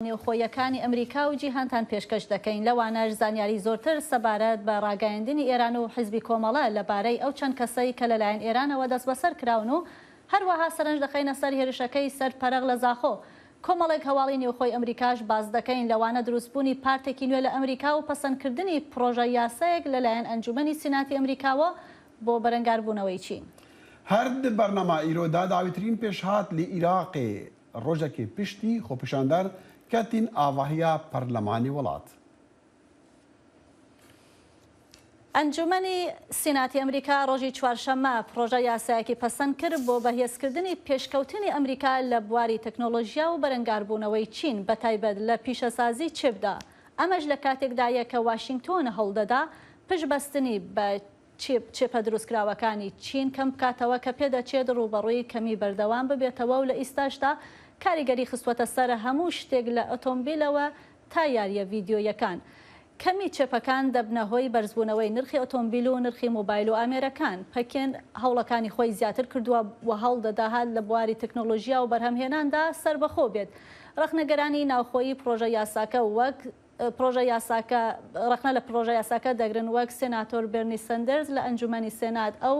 نێوخۆییەکانی ئەمریکا و جیهانتان پێشکەش دەکەین، لەوانەش زانیاری زۆرتر سەبارەت بە ڕاگەیاندنی ئێران و حیزبی کۆمەڵە لە بارەی ئەو چەند کەسەی کە لەلایەن ئێرانەوە دەستبەسەر کراون و هەروەها سەرنج دەخەینە سەر هێرشەکەی سەر پەرەغ لە زاخۆ. کۆمەڵێک هەواڵی نێوخۆی ئەمریکاش باس دەکەین، لەوانە دروستبوونی پارتێکی نوێ لە ئەمریکا و پەسەندکردنی پڕۆژە یاسایەک لەلایەن ئەنجومەنی سیناتی ئەمریکاوە بۆ بەرەنگاربوونەوەی چین. هەرد بەرنەما ئیرۆ دا داویترین پێشهات لی ئیراقێ ڕۆژەکی پشتی خۆپیشاندەر کەتین ئاڤاهیا پەرلەمانی وڵات. ئەنجوومەنی سیناتی ئەمریکا ڕۆژی چوارشەممە پڕۆژە یاسایەکی پەسەند کرد بۆ بەهێزکردنی پێشکەوتنی ئەمریکا لە بواری تەکنۆلۆژیا و بەرەنگاربوونەوەی چین بە تایبەت لە پیشەسازی چیپدا ئەمەش لە کاتێکدایە کە واشینگتۆن هەوڵدەدا پشتبەستنی بە چیپە دروستکراوەکانی چین کەم بکاتەوە کە پێدەچێت ڕووبەڕووی کەمی بەردەوام ببێتەوە و لە ئیستاشدا کاریگەری خستووەتە سەر هەموو شتێک لە ئۆتۆمبیلەوە تا یارییە ڤیدیۆییەکان کەمی چێپەکان دەبنە هۆی بەرزبوونەوەی نرخی ئۆتۆمبیل و نرخی موبایل و ئامێرەکان پەکین هەوڵەکانی خۆی زیاتر کردووە و هەوڵ دەداهات لە بواری تەکنۆلۆژیا و بەرهەمهێناندا سەربەخۆ بێت ڕەخنەگەرانی ناوخۆیی پڕۆژە یاساکە وەک پڕۆژە یاساکە، ڕەخنە لە پڕۆژە یاساکە دەگرن وەک سێناتۆر بێرنی سەندەرز لە ئەنجوومەنی سێنات ئەو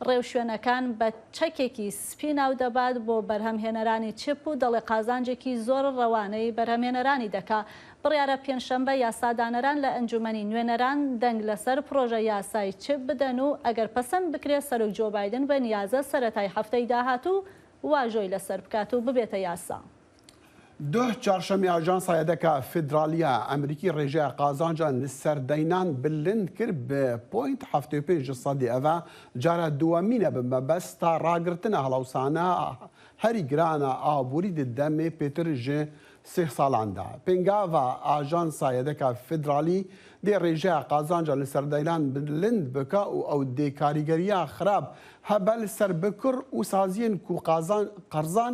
ڕێوشوێنەکان بە چەکێکی سپی ناو دەبات بۆ بەرهەمهێنەرانی چپ و دەڵێ قازانجێکی زۆر ڕەوانەی بەرهەمهێنەرانی دەکا بڕیارە پێنجشەممە یاسادانەران لە ئەنجوومەنی نوێنەران دەنگ لەسەر پڕۆژە یاسای چپ بدەن و ئەگەر پەسەند بکرێ سەرۆک جۆ بایدن بە نیازە سەرەتای هەفتەی داهاتوو واژۆی لەسەر بکات و ببێتە یاسا. دوه چارشەممە ئاژانسە یەدەکە فیدرالیە ئەمریکی ڕێژە قازانجە سەردەینان بلند کرد بە پۆینت هەفتێ پێنج سەدی ئەڤە جارە دووەمینە بە مەبەست تا ڕاگرتنە هەڵەوسانە هەری گرانە ئابووری دەمێ پێتر ژێ سێ ساڵاندا پێنگاڤە ئاژانسە یەدەکە فیدرالی دێ ڕێژە قازانجە لە سەردەینان بلند بکە و ئەو دێ کاریگەریە خراپ هەبەل سەر بکڕ و سازیێن کو قازان قەرزان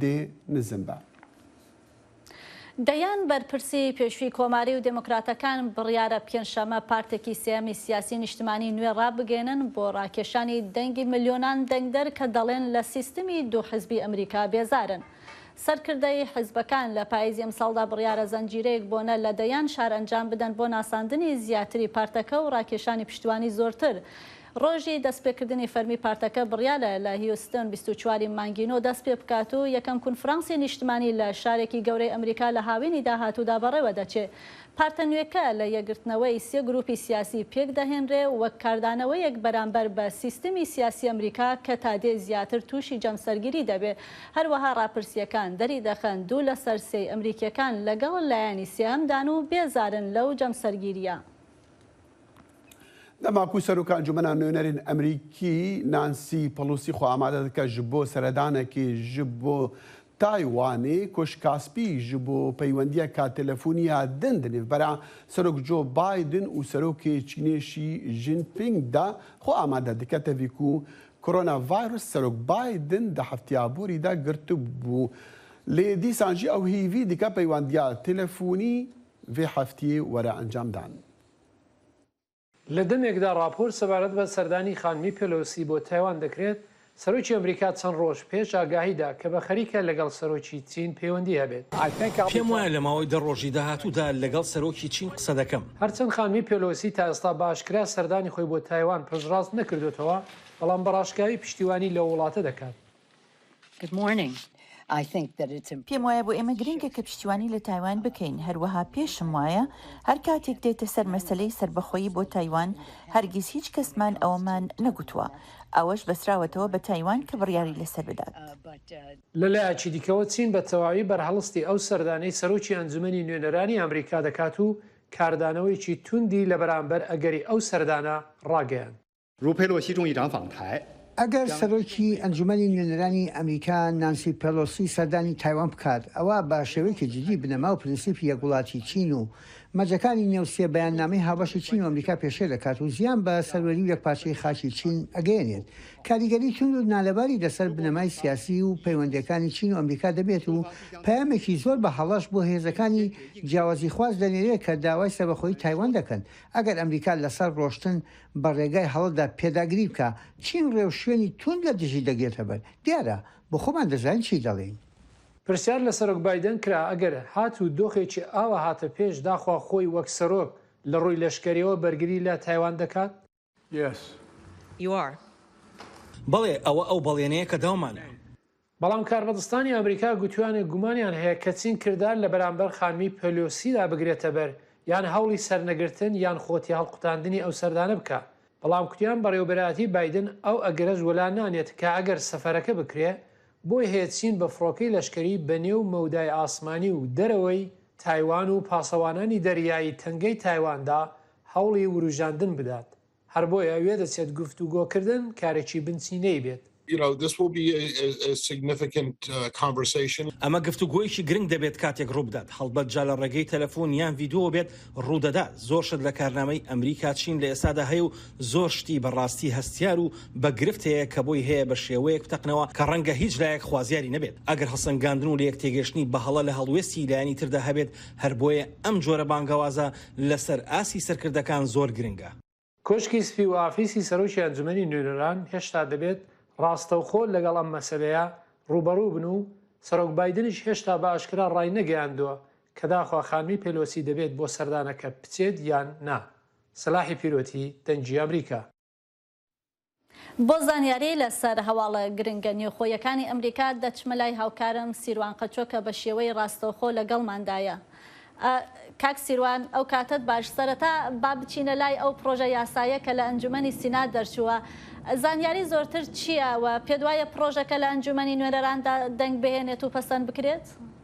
دێ نزم بە. دەیان بەرپرسی پێشووی کۆماری و دێموکراتەکان بڕیارە پێنجشەممە پارتێکی سێیەمی سیاسی نیشتمانی نوێ ڕابگەیەنن بۆ ڕاکێشانی دەنگی ملیۆنان دەنگدەر کە دەڵێن لە سیستمی دوو حزبی ئەمریکا بێزارن. سەرکردەی حزبەکان لە پاییزی ئەمساڵدا بڕیارە زنجیرەیەک بۆنە لە دەیان شار ئەنجام بدەن بۆ ناساندنی زیاتری پارتەکە و ڕاکێشانی پشتیوانی زۆرتر ڕۆژی دەستپێکردنی فەرمی پارتەکە بڕیارە لە هیوستن بیست و چوار ی مانگی نۆ دەست پێ بکات و یەکەم کونفرانسی نیشتمانی لە شارێکی گەورەی ئەمریکا لە هاوینی داهاتوودا بەڕێوە دەچێ. پارتە نوێکە لە یەکگرتنەوەی سێ گرووپی سیاسی پێک دەهێنرێ وەک کاردانەوەیەک بەرامبەر بە سیستمی سیاسی ئەمریکا کە تا دێ زیاتر تووشی جەمسەرگیری دەبێ. هەروەها ڕاپرسییەکان دەری دەخەن دوو لە سەر سێی ئەمریکییەکان لەگەڵ لایەنی سێهەمدان و بێزارن لەو جەمسەرگیرییە. دەماکو سەرۆک ئەنجومەنا نوێنەرێن ئەمریکی نانسی پەڵوسی خۆ ئامادە دکە ژ بۆ سەرەدانەکی ژ بۆ تایوانی کۆش کاسپی ژ بۆ پەیوەندیە کا تەلەفونیا دن دنیڤ بەرا سەرۆک جۆ بایدن و سەرۆکێ چینێ شی ژین پینگ دا خۆ ئامادە دکە تەڤیکو کۆرۆنا ڤایرۆس سەرۆک بایدن دە هەفتیا بوری دا گرتبو لێ دیسان ژی ئەو هیڤی دکە پەیوەندیا تەلەفونی ڤی هەفتی وەرە ئەنجام دان. لە دەمێکدا ڕاپۆرت سەبارەت بە سەردانی خانمی پێلۆسی بۆ تایوان دەکرێت، سەرۆکی ئەمریکا چەند ڕۆژ پێش ئاگاهی دا کە بە خەریکە لەگەڵ سەرۆکی چین پەیوەندی هەبێت. پێم وایە لە ماوەی دە ڕۆژی داهاتوودا لەگەڵ سەرۆکی چین قسە دەکەم. هەرچەند خانمی پێلۆسی تا ئێستا بە ئاشکرا سەردانی خۆی بۆ تایوان پشتڕاست نەکردۆتەوە، بەڵام بە ڕاشکاوی پشتیوانی لەو وڵاتە دەکات. پێم وایە بۆ ئێمە گرنگە کە پشتیوانی لە تایوان بکەین، هەروەها پێشم وایە هەر کاتێک دێتە سەر مەسەلەی سەربەخۆیی بۆ تایوان هەرگیز هیچ کەسمان ئەوەمان نەگوتووە، ئەوەش بەسراوەتەوە بە تایوان کە بڕیاری لەسەر بدات. لە لایەکی دیکەوە چین بە تەواوی بەرهەڵستی ئەو سەردانەی سەرۆکی ئەنجومەنی نوێنەرانی ئەمریکا دەکات و کاردانەوەیەکی توندی لە بەرامبەر ئەگەری ئەو سەردانە ڕاگەیاند. ئەگەر سەرۆکی ئەنجومەنی نوێنەرانی ئەمریکا نانسی پێلۆسی سەردانی تایوان بکات، ئەوا بە شێوەیەکی جدی بنەما و پرنسیپی یەک وڵاتی چین و مەرجەکانی نێو سێ بەیاننامەی هاوبەشی چین و ئەمریکا پێشێل دەکات و زیان بە سەروەری و یەکپارچەیی خاکی چین ئەگەیەنێت، کاریگەری توند و نالەباری لەسەر بنەمای سیاسی و پەیوەندییەکانی چین و ئەمریکا دەبێت و پەیامێکی زۆر بە هەڵەش بۆ هێزەکانی جیاوازیخواز دەنێرێت کە داوای سەربەخۆیی تایوان دەکەن ئەگەر ئەمریکا لەسەر ڕۆشتن بە ڕێگای هەڵەدا پێداگری بکە، چین ڕێوشوێنی توند لە دژی دەگرێتە بەر. دیارە، بۆ خۆمان دەزانین چی دەڵێین. پرسیار لە سەرۆک بایدن کرا، ئەگەر هاتوو دۆخێکی ئاوا هاتە پێش، داخوا خۆی وەک سەرۆک لە ڕووی لەشکەرییەوە بەرگری لە تایوان دەکات؟ Yes. You are. بەڵێ، ئەوە ئەو بەڵێنەیە کە داومانە. بەڵام کاربەدستانی ئەمریکا گوتویانە گومانیان هەیە کە چین کردار لە بەرامبەر خانمی پێلۆسیدا بگرێتە بەر یان هەوڵی سەرنەگرتن یان خۆ تێهەڵقوتاندنی ئەو سەردانە بکا بەڵام کوتیان بەڕێوەبەرایەتی بایدن ئەو ئەگەرەش وەلا نانێت کە ئەگەر سەفەرەکە بکرێ بۆی هەیە چین بە فڕۆکەی لەشکەری بە نێو مەودای ئاسمانی و دەرەوەی تایوان و پاسەوانانی دەریایی تەنگەی تایواندا هەوڵی وروژاندن بدات. هەر بۆیە وێدەچێت گفتوگۆکردن کارێکی بنچینەی بێت. You know this will be a significant conversation. ئەمە گفتوگۆیەکی گرنگ دەبێت کاتێک ڕووبدات، هەڵبەت جا لە ڕێگەی تەلەفۆن یان ڤیدۆوە بێت ڕوودەدات، زۆر شت لە کارنامەی ئەمریکا چین لە ئێستادا هەیە و زۆر شتی بە ڕاستی هەستیار و بە گرفت هەیە کە بۆی هەیە بە شێوەیەک بتەقنەوە کە ڕەنگە هیچ لایەک خوازیاری نەبێت ئەگەر هەڵسەنگاندن و لەیەکتێگەشتنی بەهەڵە لە هەڵوێستی لایەنی تردا هەبێت هەر بۆیە ئەم جۆرە بانگەوازە لەسەر ئاستی سەرکردەکان زۆر گرنگە. کۆشکی سپی و ئافیسی سەرۆکی ئەنجومەنی نوێنەران هێشتا دەبێت ڕاستەوخۆ لەگەڵ ئەم مەسەلەیە ڕووبەڕوو بن و سەرۆک بایدنیش هێشتا بە ئاشکرا ڕاینەگەیاندووە کە داخوا خانمی پێلۆسی دەبێت بۆ سەردانەکە بچێت یان نا سلاحی پیرۆتی دەنگی ئەمریکا. بۆ زانیاری لەسەر هەواڵە گرنگە نێوخۆیەکانی ئەمریکا دەچمە لای هاوکارم سیروان قەچۆ کە بە شێوەی ڕاستەوخۆ لەگەڵماندایە. کاک سیروان ئەو کاتەت باش، سەرەتا با بچینە لای ئەو پڕۆژە یاسایە کە لە ئەنجومەنی سینا دەرچووە، زانیاری زۆرتر چییە و پێتوایە پڕۆژەکە لە ئەنجومەنی نوێنەراندا دەنگ بهێنێت و پەسەند بکرێت؟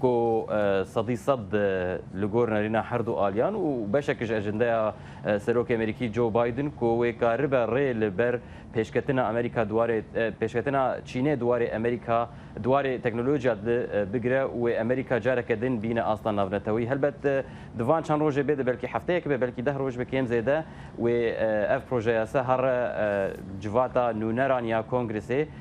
کو سەدی سەد لگۆر نەرینا هەردو ئالیان و بەشەکش ئەژندەیا سەرۆک ئەمریکی جۆو بایدن کو وەی کاربە ڕێ لە بەر پێشکەتنا ئەمریکا دوارێ پێشکەتنا چینێ دوارێ ئەمریکا دوارێ تەکنۆلۆژیا دل بگرە و وەی ئەمریکا جارەکە دن بینە ئاستا ناڤنەتەوەی هەلبەت دڤان چەن ڕۆژێ بێدە بەلکی هەفتەیەک بێ بەلکی دە ڕۆژ بێ کێم زێدە وەی ئەڤ پرۆژە یاسا هەڕ جڤاتا نوونەران یا کۆنگرسێ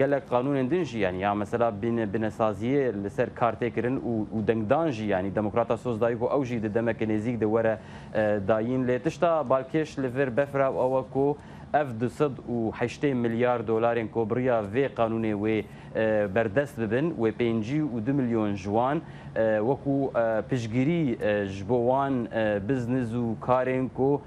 گەلەک قانوونێن دن ژی یانی یا مەسەلا بینە بنە سازییێ لە سەر کارتێ کرن و و دەنگ دان ژی یانی دموکراتا سۆز دایک و ئەو ژی دە دەمەکێ نێزیک دە وەرە دایین لێ تشتا بالکێش لە ڤر بەفرا و ئەوە کۆ ئەڤ دو سەد و هەشتەی ملیار دۆلارێن کۆ بریا ڤێ قانوونێ وێ بەردەس ببن وێ پێنجی و دو ملیۆن ژوان وەکوو پشگیری ژبۆ وان بزنز و کارێن کۆ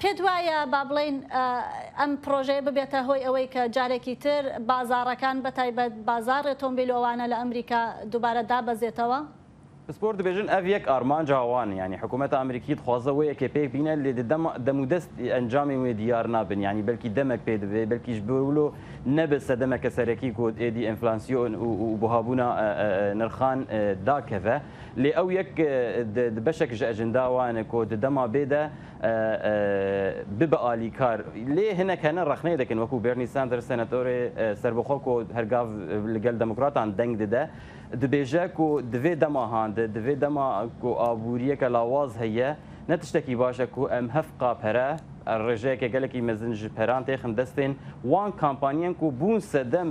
پێت وایە با بڵێین ئەم پڕۆژەیە ببێتە هۆی ئەوەی کە جارێکی تر بازاڕەکان بە تایبەت بازاڕی ئۆتۆمبیلۆوانە لە ئەمریکا دووبارە دابەزێتەوە؟ پسپۆر دبێژن ئەڤ یەک ئارمانج هاوان یانی حکوومەت ئەمریکی دخوازە وەیە کە پێک بینە لێ دە دەم و دەست ئەنجامێ وێ دیار نابن یانی بەلکی دەمەک پێ دبێ بەلکیش بەولۆ نەبێ سەدەمەکە سەرەکی کۆد ئێدی ئێنفلانسیۆن و بوهابوونا نرخان داکەڤە. لێ ئەو یەک د بەشەک ژە ئەژندا وانە کۆ د دەما بێ دە ببئ ئالی کار. لێ هنەک هەنە رەخنەێ دەکن وەکوو بێرنی ساندرس سەنەتۆرێ سەربەخۆ کۆ هەر گاڤ لگەل دەموکراتان دەنگ ددە، دبێژە کۆ دڤێ دەما هان د دڤێ دەما کۆ ئابوورییەکە لاواز هەییە، نە تشتەکی باشە کۆ ئەم هەف قا پەرە ئەر رێژەێکێ گەلەکی مەزن ژ پەران تێخن دەستێن وان کامپانیەن کۆ بوون سەدەم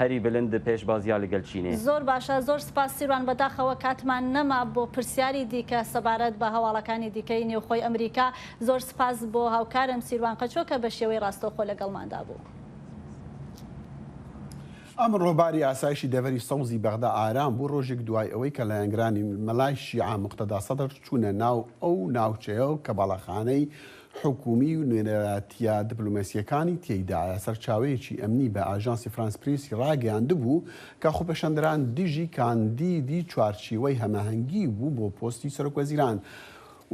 هەری بلند پێش باز یا لگەل چینێ. زۆر باشە زۆر سپاس سیروان بەداخەوە کاتمان نەما بۆ پرسیاری دیکە سەبارەت بە هەواڵەکانی دیکەی نێوخۆی ئەمریکا زۆر سپاس بۆ هاوکارم سیروان قەچۆ کە بە شێوەی ڕاستەوخۆ لەگەڵماندا بوو. ئەمڕۆ باری ئاسایشی دەڤەری سەوزی بەغدا ئارام بوو، ڕۆژێک دوای ئەوەی کە لایەنگرانی مەلای شیعە موقتەدا سەدر چوونە ناو ئەو ناوچەیەو کە باڵەخانەی حکوومی و نوێنەرایەتییە دبلۆماسییەکانی تێیدایە. سەرچاوەیەکی ئەمنی بە ئاژانسی فرانس پرێسی ڕاگەیاندبوو کە خۆپێشاندەران دژی کاندیدی چوارچێوەی هەماهەنگی بوو بۆ پۆستی سەرۆکوەزیران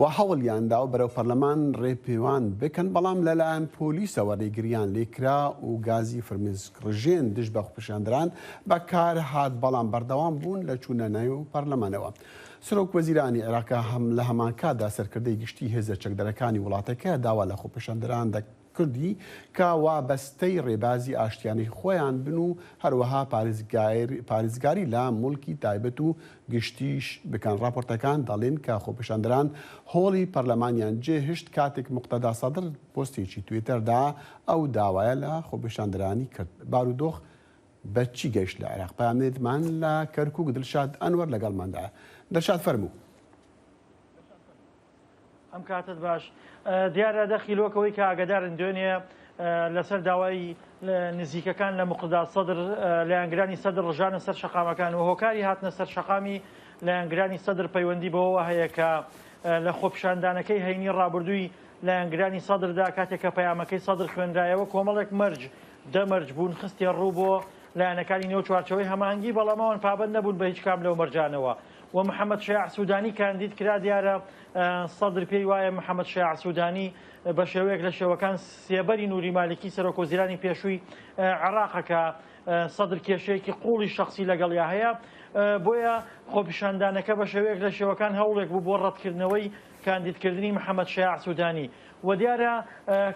و هەوڵیاندا بەرەو پەرلەمان ڕێپێوان بکەن، بەڵام لەلایەن پۆلیسەوە ڕێگرییان لێکرا و گازی فرمێسکڕژێن دژ بە خۆپێشاندەران بەکارهات، بەڵام بەردەوام بوون لە چوونە نێو پەرلەمانەوە. سەرۆک وەزیرانی عێراق هەم لە هەمانکاتدا سەرکردەی گشتی هێزە چەکدەرەکانی وڵاتەکە داوا لە خۆپێشاندەران دە کردی کە وابەستەی ڕێبازی ئاشتیانەی خۆیان بن و هەروەها پارێزگار پارێزگاری لە موڵکی تایبەت و گشتیش بکەن ڕاپۆرتەکان دەڵێن کە خۆپێشاندەران هۆڵی پەرلەمانیان جێ هشت کاتێک موقتەدا سەدر پۆستێکی توێتەردا ئەو داوایە لە خۆپێشاندەرانی کرد بارودۆخ بە چی گەیشت لە عێراق؟ پەیامنێرمان لە کەرکووک دڵشاد ئەنوەر لەگەڵماندایە. دڵشاد فەرموو. ئەم کاتت باش دیارە دەخی لۆک ئەوەی کە ئاگادارن دوێنێ لەسەر داوای نزیکەکان لە مقداد سەدر لایەنگرانی سەدر ڕژانە سەر شەقامەکان و هۆکاری هاتنە سەر شەقامی لایەنگرانی سەدر پەیوەندی بەوەوە هەیە کە لە خۆپیشاندانەکەی هەینی ڕابردووی لایەنگرانی سەدردا کاتێک کە پەیامەکەی سەدر خوێنرایەوە کۆمەڵێک مەرج دە مەرج بوون خستیە ڕوو بۆ لایەنەکانی نێو چوارچێوەی هەماهەنگی بەڵام ئەوان پابەند نەبوون بە هیچ کام لەو مەرجانەوە و محەمەد شیاع سودانی کاندید کرا دیارە سەدر پێی وایە محەمەد شیاع سودانی بە شێوەیەک لە شێوەکان سێبەری نوری مالکی سەرۆک وەزیرانی پێشووی عێراقە کە سەدر کێشەیەکی قوڵی شخصی لەگەڵیا هەیە بۆیە خۆپیشاندانەکە بە شێوەیەک لە شێوەکان هەوڵێک بوو بۆ ڕەتکردنەوەی کاندیدکردنی محەمەد شیاع سودانی وە دیارە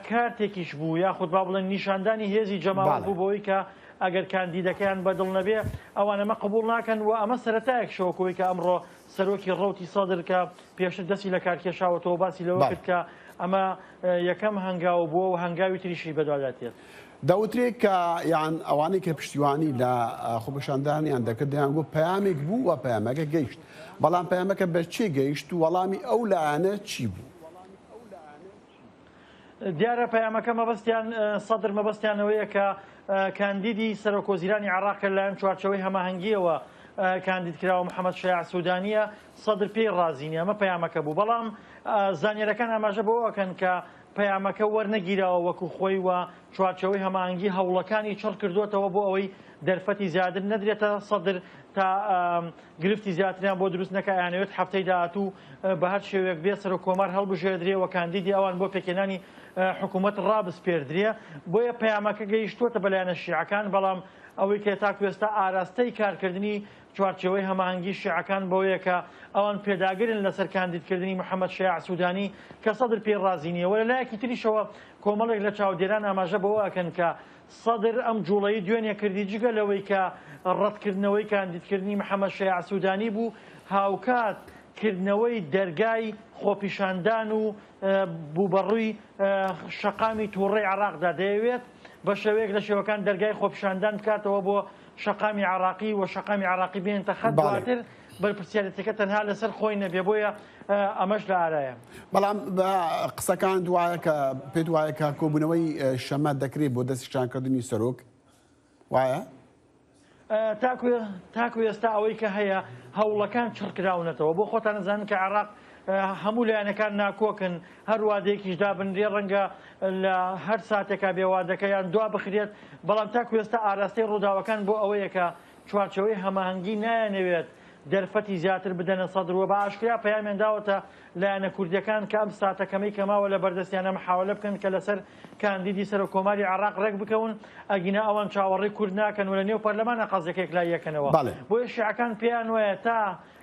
کارتێکیش بوو یاخود با بڵێن نیشاندانی هێزی جەماوەر بوو بەوەی کە ئەگەر کاندیدەکەیان بە دڵ نەبێ ئەوان ئەمە قبوڵ ناکەن وە ئەمە سەرەتایەکشە وەک ئەوەی کە ئەمڕۆ سەرۆکی ڕەوتی سەدر کە پێشتر دەستی لە کار کێشاوەتەوە باسی لەوە کرد کە ئەمە یەکەم هەنگاو بووە و هەنگاوی تریشی بەدوادا دێت. دەوترێ کە یان ئەوانەی کە پشتیوانی لە خۆپێشاندانیان دەکرد دەیانگوت پەیامێک بوو وە پەیامەکە گەیشت بەڵام پەیامەکە بە کێ گەیشت و وەڵامی ئەو لایەنە چی بوو؟ دیارە پەیامەکە مەبەستیان سەدر مەبەستیان ئەوەیە کە کاندیدی سەرۆک وەزیرانی عێراق کە لەلایەن چوارچەوەی هەماهەنگییەوە کاندید کراوە محەمەد شەیاع سوودانییە سەدر پێی ڕازی نییە ئەمە پەیامەکە بوو بەڵام زانیارییەکان ئاماژە بەوە ئەکەن کە پەیامەکە وەرنەگیراوە وەکو خۆی و چوارچەوەی هەماهەنگی هەوڵەکانی چڕ کردووەتەوە بۆ ئەوەی دەرفەتی زیاتر نەدرێتە سەدر تا گرفتی زیاتریان بۆ دروست نەکا ئەیانەوێت هەفتەی داهاتوو بەهەر شێوەیەک بێت سەرۆک کۆمار هەڵبژێردرێ و کاندیدی ئەوان بۆ پێکهێنانی حکومەت ڕابسپێردرێ بۆیە پەیامەکە گەیشتووەتە بە لایەنە شیعەکان بەڵام ئەوەی کە تاکو ئێستا ئاراستەی کارکردنی چوارچێوەی هەماهەنگی شیعەکان بەوەیە کە ئەوان پێداگرن لەسەر کاندیدکردنی محەمەد شەیاع سودانی کە سەدر پێی ڕازی نییە وە لەلایەکی تریشەوە کۆمەڵێک لە چاودێران ئاماژە بەوە ئەکەن کە سەدر ئەم جوڵەی دوێنێ کردی جگە لەوەی کە ڕەتکردنەوەی کاندیدکردنی محەمەد شەیاع سودانی بوو، هاوکات کردنەوەی دەرگای خۆپیشاندان و بوو بە ڕووی شەقامی توڕەی عێراقدا، دەیەوێت بە شێوەیەک لە شێوەکان دەرگای خۆپیشاندان بکاتەوە بۆ شەقامی عێراقی و شەقامی عێراقی بێنێتە خەت دواتر. بەرپرسیارێتیەکە تەنها لەسەر خۆی نەبێ بۆیە ئەمەش لە ئارایە. بەڵام بە قسەکان دوایە کە پێت وایە کە کۆبوونەوەی شەمە دەکرێت بۆ دەستیشانکردنی سەرۆک وایە؟ تاکو ئێستا ئەوەی کە هەیە هەوڵەکان چڕکراونەتەوە بۆ خۆتان نەزانن کە عێراق هەموو لایەنەکان ناکۆکن هەر وادەیەکیش دابنرێ ڕەنگە لە هەر ساتێکا بێوادەکە یان دوا بخرێت بەڵام تاکو ئێستا ئاراستەی ڕووداوەکان بۆ ئەوەیەکە چوارچێوەی هەماهەنگی نایانەوێت دەرفەتی زیاتر بدەنە سەدر و بە ئاشکرا پەیامیان داوەتە لایەنە کوردییەکان کە ئەم ساتە کەمەی کە ماوە لە بەردەستیانە محاولە بکەن کە لەسەر کاندیدی سەرۆککۆماری عێراق رێکبکەون ئەگینا ئەوان چاوەڕێی کورد ناکەن و لە نێو پەرلەمانە قەزیەکە یەکلاییەکەنەوە بۆیە شیعەکان پێیانوایە تا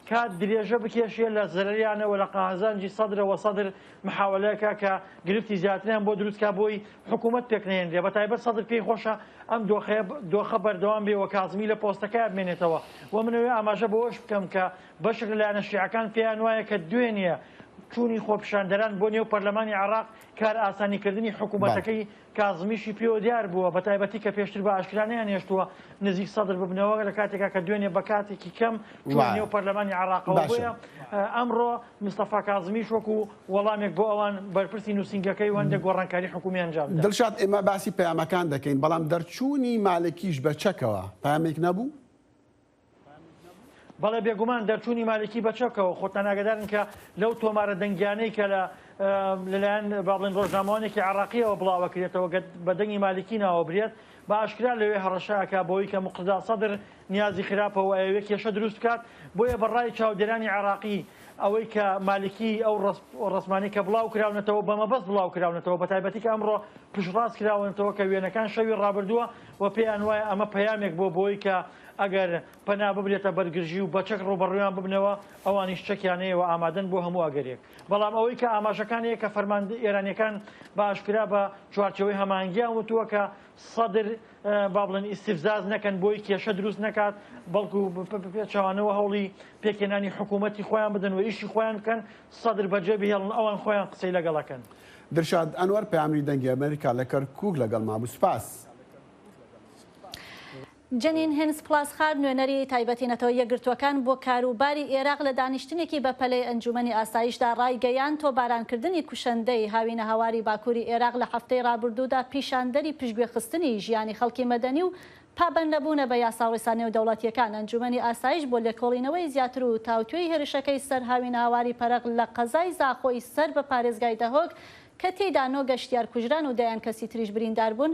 کات درێژە بکێشێ لە زرریانە وە لە قهزانجی سەدرە وە سەدر محاوەلە کا کە گرفتی زیاتریان بۆ دروست کا بۆی حکوومەت پێک نەهێنرێ بە تایبەت سەدر پێی خۆشە ئەم دۆخەیە دۆخە بەردەوام بێ وە کازمی لە پۆستەکەیا بمێنێتەوە وە منەوێ ئاماژە بەوەش بکەم کە بەشێک لە لایەنە شیعەکان پێیان وایە کە دوێنێ چوونی خۆپیشاندەران بۆ نێو پەرلەمانی عێڕاق کار ئاسانی کردنی حکوومەتەکەی کازمیشی پێوە دیار بووە بە تایبەتی کە پێشتر بە ئاشکرا نەیانهێشتووە نزیک سەدر ببنەوە لە کاتێکا کە دوێنێ بە کاتێکی کەم چوونە نێو پەرلەمانی عێراقەوە بۆیە ئەمڕۆ مستەفا کازمیش وەکو وەڵامێک بۆ ئەوان بەرپرسی نووسینگەکەی و هەندێک گۆڕانکاری حکوومی ئەنجام دا. دڵشاد ئێمە باسی پەیامەکان دەکەین بەڵام دەرچوونی مالکیش بە چەکەوە پەیامێک نەبوو؟ بەڵێ بێگومان دەرچوونی مالکی بەچەکەوە خۆتان ئاگدارن کە لەو تۆمارە دەنگیانەی کە لە لەلایەن بابڵێن ڕۆژنامەوانێکی عراقیەوە بڵاوەکرێتەوە بە دەنگی مالکی ناوەبرێت بە ئاشکرا لەوێ هەڕەشەکە بۆی کە مقددا سەدر نیازی خراپەوە ئەوێ کێشە دروست بکات بۆیە بە ڕای چاودێرانی عراقی ئەوەی کە مالکی ئەو ڕسمانی کە بڵاو کراونەتەوە بە مەبەست بڵاو کراونەتەوە بە تایبەتی کە ئەمڕۆ پشڕاست کراونەتەوە کە وێنەکان شەوی ڕابردووە و پێیان وایە ئەمە پەیامێک بۆ بۆی کە ئەگەر پەنا ببرێتە بەر گرژی و بە چەک ڕووبەڕوویان ببنەوە، ئەوانیش چەکیان هەیە و ئامادەن بۆ هەموو ئەگەرێک. بەڵام ئەوەی کە ئاماژەکان هەیە کە فەرماندە ئێرانییەکان بە ئاشکرا بە چوارچێوەی هەماهەنگییان وتووە کە سەدر با بڵێن ئیستیفزاز نەکەن بۆی کێشە دروست نەکات، بەڵکو بە پێچەوانەوە هەوڵی پێکهێنانی حکوومەتی خۆیان بدەن و ئیشی خۆیان بکەن، سەدر بەجێ بهێڵن، ئەوان خۆیان قسەی لەگەڵ ئەکەن. دلشاد ئەنوەر، پەیامنێری دەنگی ئەمەریکا لە کەرکووک لەگەڵمابوو. سپاس. جەنین هینز پلاسخارت نوێنەری تایبەتی نەتەوە یەکگرتووەکان بۆ کاروباری ئێراق لە دانیشتنێکی بەپەلەی ئەنجوومەنی ئاسایشدا ڕایگەیاند، تۆبارانکردنی کوشەندەی هاوینەهەواری باکووری ئێراق لە هەفتەی ڕابردوودا پیشاندەری پشتگوێخستنی ژیانی خەڵکی مەدەنی و پابەندنەبوونە بە یاساوڕیسا نێودەوڵەتییەکان ئەنجوومەنی ئاسایش بۆ لێکۆڵینەوەی زیاتر و تاوتوێی هێرشەکەی سەر هاوینەهەواری پەرەغ لە قەزای زاخۆی سەر بە پارێزگای دهۆک کە تێیدا نۆ گەشتیار کوژران و دەیان کەسی تریش برینداربوون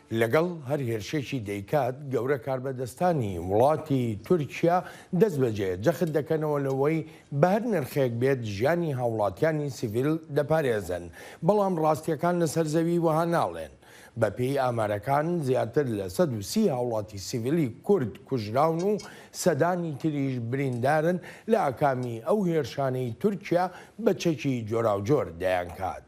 لەگەڵ هەر هێرشێکی دەیکات گەورە کاربەدەستانی وڵاتی تورکیا دەستبەجێ جەخت دەکەنەوە لەوەی بە هەر نرخێک بێت ژیانی هاوڵاتیانی سیڤیل دەپارێزن، بەڵام ڕاستیەکان لەسەر زەوی وەها ناڵێن. بە پێی ئامارەکان زیاتر لە سەد و سی هاوڵاتی سیڤیلی کورد کوژراون و سەدانی تریش بریندارن لە ئاکامی ئەو هێرشانەی تورکیا بە چەکی جۆراوجۆر دەیانکات.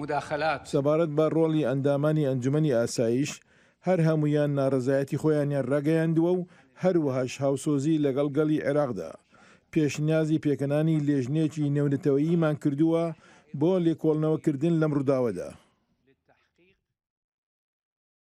مداخلات. سەبارەت بە ڕۆڵی ئەندامانی ئەنجومەنی ئاسایش، هەر هەموویان ناڕەزایەتی خۆیانیان ڕاگەیاندووە و هەروەهاش هاوسۆزی لەگەڵ گەلی عێراقدا پێشنیازی پێکەنانی لێژنەیەکی نێونەتەوەییمان کردووە بۆ لێکۆڵنەوەکردن لەم ڕووداوەدا.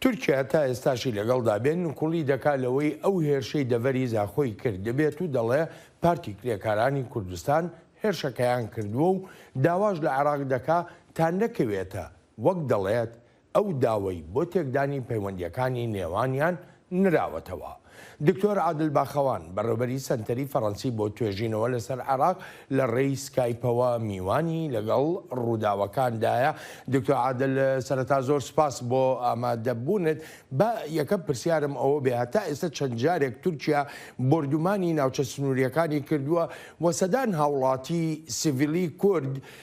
تورکیا تا ئێستاشی لەگەڵدا بێت نکوڵی دەکات لەوەی ئەو هێرشەی دەڤەری زاخۆی کردبێت و دەڵێ پارتی کرێکارانی کوردستان هێرشەکەیان کردووە و داواش لە عێراق دەکا تا نەکەوێتە وەک دەڵێت ئەو داوەی بۆ تێکدانی پەیوەندییەکانی نێوانیان نراوەتەوە. دکتۆر عادل باخەوان، بەڕێوبەری سەنتەری فەرەنسی بۆ توێژینەوە لەسەر عێراق لە ڕێی سکایپەوە میوانی لەگەڵ ڕووداوەکان دایە. دکتۆر عادل سەرەتا زۆر سپاس بۆ ئامادەبوونت. با یەکەم پرسیارم ئەوە بێ هەتا ئێستا چەند جارێک تورکیا بۆردومانی ناوچە سنوورییەکانی کردووە و سەدان هاوڵاتی سڤیلی کورد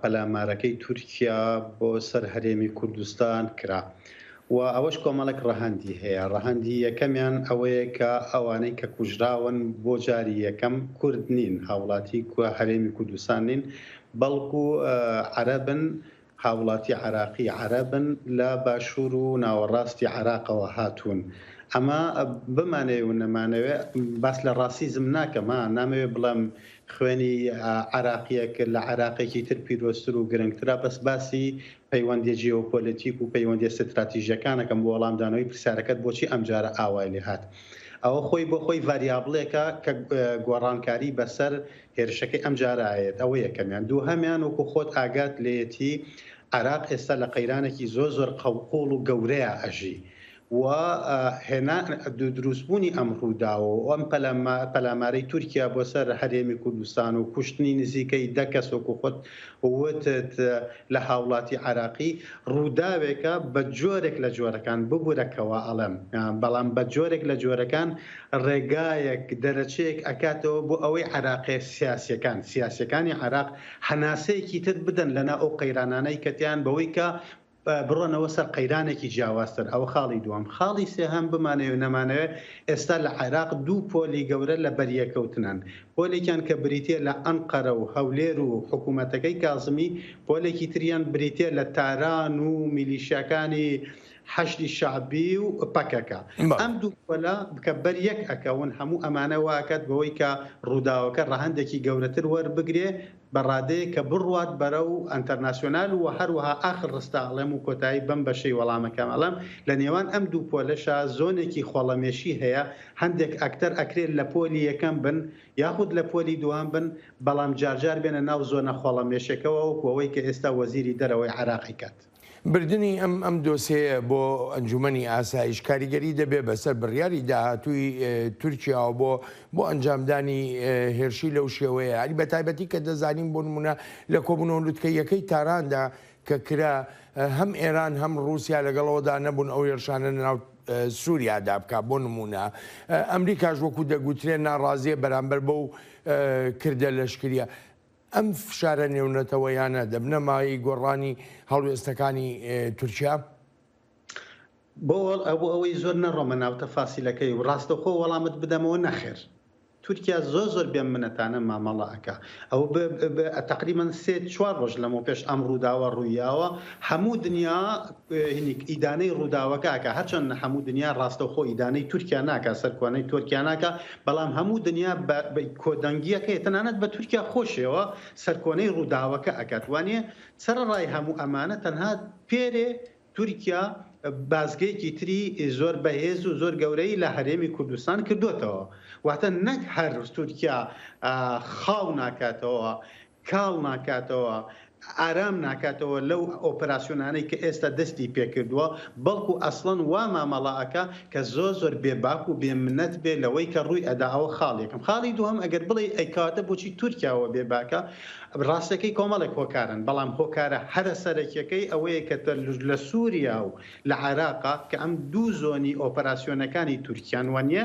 پەلامارەکەی تورکیا بۆ سەر هەرێمی کوردستان کرا و ئەوەش کۆمەڵێک ڕەهەندی هەیە ڕەهەندی یەکەمیان ئەوەیە کە ئەوانەی کە کوژراون بۆ جاری یەکەم کورد نین هاوڵاتی کوە هەرێمی کوردستان نین بەڵکو عەرەبن هاوڵاتی عراقی عەرەبن لە باشوور و ناوەڕاستی عراقەوە هاتوون ئەمە بمانەوێ و نەمانەوێ باس لە ڕاسیزم ناکەمە نامەوێ بڵێم خوێنی عێراقیەک لە عێراقێکی تر پیرۆزتر و گرنگترە، بەس باسی پەیوەندیە جیۆپۆلەتیک و پەیوەندیە ستراتیژەکان ئەکەم بۆ وەڵامدانەوەی پرسیارەکەت بۆچی ئەمجارە ئاوای لێ هات؟ ئەوە خۆی بۆ خۆی ڤاریابڵێکە کە گۆڕانکاری بەسەر هێرشەکەی ئەمجارە ئەیەت ئەوە یەکەمیان، دووهەمیان وەکو خۆت ئاگات لێیەتی عێراق ئێستا لە قەیرانێکی زۆر زۆر قەوقوڵ و گەورەیا ئەژی و هێنان دروست بوونی ئەم ڕووداوە و ئەم پەلامارەی تورکیا بۆ سەر هەرێمی کوردستان و کوشتنی نزیکەی دە کەس وەکو خۆت وتت لە هاوڵاتی عێراقی ڕووداوێکە بە جۆرێک لە جۆرەکان ببورە کەوا ئەڵێم بەڵام بە جۆرێک لە جۆرەکان ڕێگایەک دەرەچەیەک ئەکاتەوە بۆ ئەوەی عێراقێ سیاسیەکان سیاسیەکانی عێراق هەناسەیەکی تر بدەن لەنا ئەو قەیرانانەی کەتیان بەوەی کە بڕۆنەوە سەر قەیرانێکی جیاوازتر، ئەوە خاڵی دووەم. خاڵی سێهەم، بمانەوێ نەمانەوێ، ئێستا لە عێراق دوو پۆلی گەورە لەبەریەککەوتنن. پۆلێکیان کە بریتییە لە ئەنقەرە و هەولێر و حکوومەتەکەی کازمی، پۆلێکی تریان بریتییە لە تاران و میلیشیاکانی حەشدی شەعبی و پەکەکە. ئەم دوو پۆلە کە بەر یەک ئەکەون، هەموو ئەمانە وا ئەکات بەوەی کە ڕووداوەکە ڕەهەندێکی گەورەتر وەربگرێ بە ڕادەیەک کە بڕوات بەرەو ئەنتەرناسیۆنال و هەروەها ئاخر ڕستە ئەڵێم و کۆتایی بەم بەشەی وەڵامەکەم ئەڵێم لە نێوان ئەم دوو پۆلەشا زۆنێکی خۆڵەمێشی هەیە هەندێک ئەکتەر ئەکرێ لە پۆلی یەکەم بن یاخود لە پۆلی دووهەم بن بەڵام جارجار بێنە ناو زۆنە خۆڵەمێشەکەوە وەکو ئەوەی کە ئێستا وەزیری دەرەوەی عێراقی کات بردنی ئەم ئەم دۆسێیە بۆ ئەنجومەنی ئاسایش کاریگەری دەبێ بەسەر بڕیاری داهاتووی تورکیاوە بۆ بۆ ئەنجامدانی هێرشی لەو شێوەیە هەری بە تایبەتی کە دەزانین بۆ نمونە لە کۆبوونەوە لوتکە یەکەی تاراندا کە کرا هەم ئێران هەم رووسیا لەگەڵەوەدا نەبوون ئەو هێرشانە ناو سووریادا بکە بۆ نمونە ئەمریکاش وەکو دەگوترێن ناڕازیە بەرامبەر بەو کردە لەشکریە ئەم فشارە نێونەتەوەیانە دەبنە مایەی گۆڕانی هەڵوێستەکانی تورکیا؟ بۆ ئەوەی زۆر نەڕۆمە ناو تەفاسیلەکەی و ڕاستەوخۆ وەڵامت بدەمەوە، نەخێر. تورکیا زۆر زۆر بێ منەتانە مامەڵە ئەکا. ئەو تەقریبەن سێ چوار ڕۆژ لەمەوپێش ئەم ڕووداوە ڕوویاوە، هەموو دنیا ئیدانەی ڕووداوەکە ئەکا، هەرچەندە هەموو دنیا ڕاستەوخۆ ئیدانەی تورکیا ناکا، سەرکۆنەی تۆرکیا ناکا، بەڵام هەموو دنیا بە کۆدەنگیەکەی تەنانەت بە تورکیا خۆشیەوە سەرکۆنەی ڕووداوەکە ئەکات وانیە سەرەڕای هەموو ئەمانە تەنها پێرێ تورکیا بازگەیەکی تری زۆر بەهێز و زۆر گەورەی لە هەرێمی کوردستان کردۆتەوە واتە نەک هەر تورکیا خاو ناکاتەوە کاڵ ناکاتەوە، ئارام ناکاتەوە لەو ئۆپراسیۆنانەی کە ئێستا دەستی پێکردووە، بەڵکو ئەسڵەن وا مامەڵە ئەکا کە زۆر زۆر بێ باک و بێ منەت بێ لەوەی کە ڕووی ئەدا ئەوە خاڵ یەکەم. خاڵی دووهەم ئەگەر بڵێی ئەی کەواتە بۆچی تورکیا وە بێ باکە؟ ڕاستەکەی کۆمەڵێک هۆکارن بەڵام هۆکارە هەرە سەرەکیەکەی ئەوەیە کە تە لە سوریا و لە عێراقا کە ئەم دوو زۆنی ئۆپەراسیۆنەکانی تورکیان وە نیە،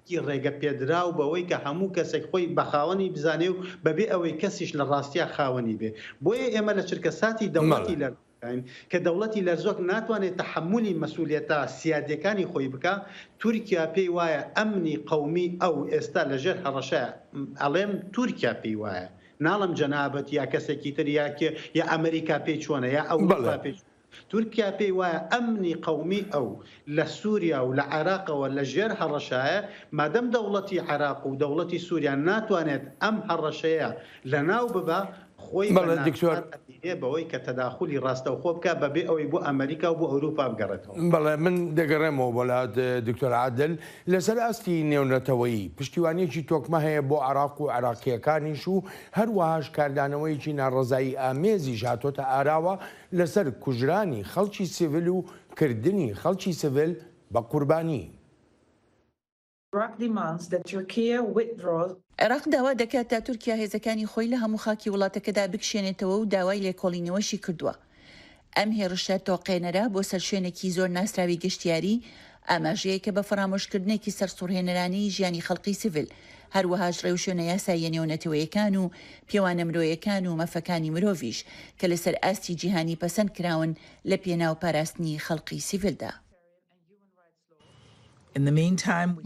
ی ڕێگە پێدراو بەوەی کە هەموو کەسێک خۆی بە خاوەنی بزانێ و بەبێ ئەوەی کەسیش لە ڕاستیا خاوەنی بێ. بۆیە ئێمە لە چرکەساتی دەوڵەتی مەڵێ. لەرزۆکداین کە دەوڵەتی لەرزۆک ناتوانێ تەحەمولی مەسئولیەتە سیادیەکانی خۆی بکا. تورکیا پێی وایە ئەمنی قەومی ئەو ئێستا لە ژێر هەڕەشەیە. م ئەڵێم تورکیا پێی وایە. ناڵێم جەنابت یا کەسێکی تر یا کێ یا ئەمریکا پێی چۆنە یا بەڵێ. ئەوروپا پێی چۆنە. تورکیا پێی وایە ئەمنی قەومیی ئەو لە سووریا و لە عێراقەوە لە ژێر هەڕەشایە، مادەم دەوڵەتی عێراق و دەوڵەتی سووریا ناتوانێت ئەم هەڕەشەیە لەناو ببا، خۆی بە ناچار ئەبینێ بەوەی کە تەداخولی ڕاستەوخۆ بکا بە بێ ئەوەی بۆ ئەمەریکا و بۆ ئەورووپا بگەڕێتەوە. بەڵێ، من دەگەڕێمەوە بۆ لات دکتۆر عادل. لە سەر ئاستی نێونەتەوەیی، پشتیوانییەکی تۆکمە هەیە بۆ عێراق و عێراقییەکانیش و هەر وەهاش کاردانەوەیەکی ناڕەزایی ئامێزیش هاتۆتە ئاراوە، لەسەر کوژرانی خەڵکی سڤیل و کردنی خەڵکی سڤیل بە قوربانی. Iraq demands that Türkiye withdraw. عێراق داوا دەکات تا تورکیا هێزەکانی خۆی لە هەموو خاکی وڵاتەکەدا بکشێنێتەوە و داوای لێکۆڵینەوەشی کردووە. ئەم هێڕشە تۆقێنەرە بۆ سەر شوێنێکی زۆر ناسراوی گەشتیاری ئاماژەیەک کە بە فەرامۆشکردنێکی سەرسوڕهێنەرانەی ژیانی خەڵقی سڤیل، هەروەهاش ڕێوشوێنە یاساییە نێونەتەوەیەکان و پێوانە مرۆیەکان و مەفەکانی مرۆڤیش کە لەسەر ئاستی جیهانی پەسەند کراون لە پێناو پاراستنی خەڵقی سڤیلدا.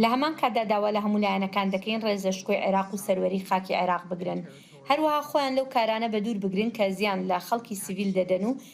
لە هەمان کاتدا داوا لە هەموو لایەنەکان دەکەین ڕێزە شکۆی عێراق و سەروەری خاکی عێراق بگرن، هەروەها خۆیان لەو کارانە بەدوور بگرن کە زیان لە خەڵکی سڤیل دەدەن و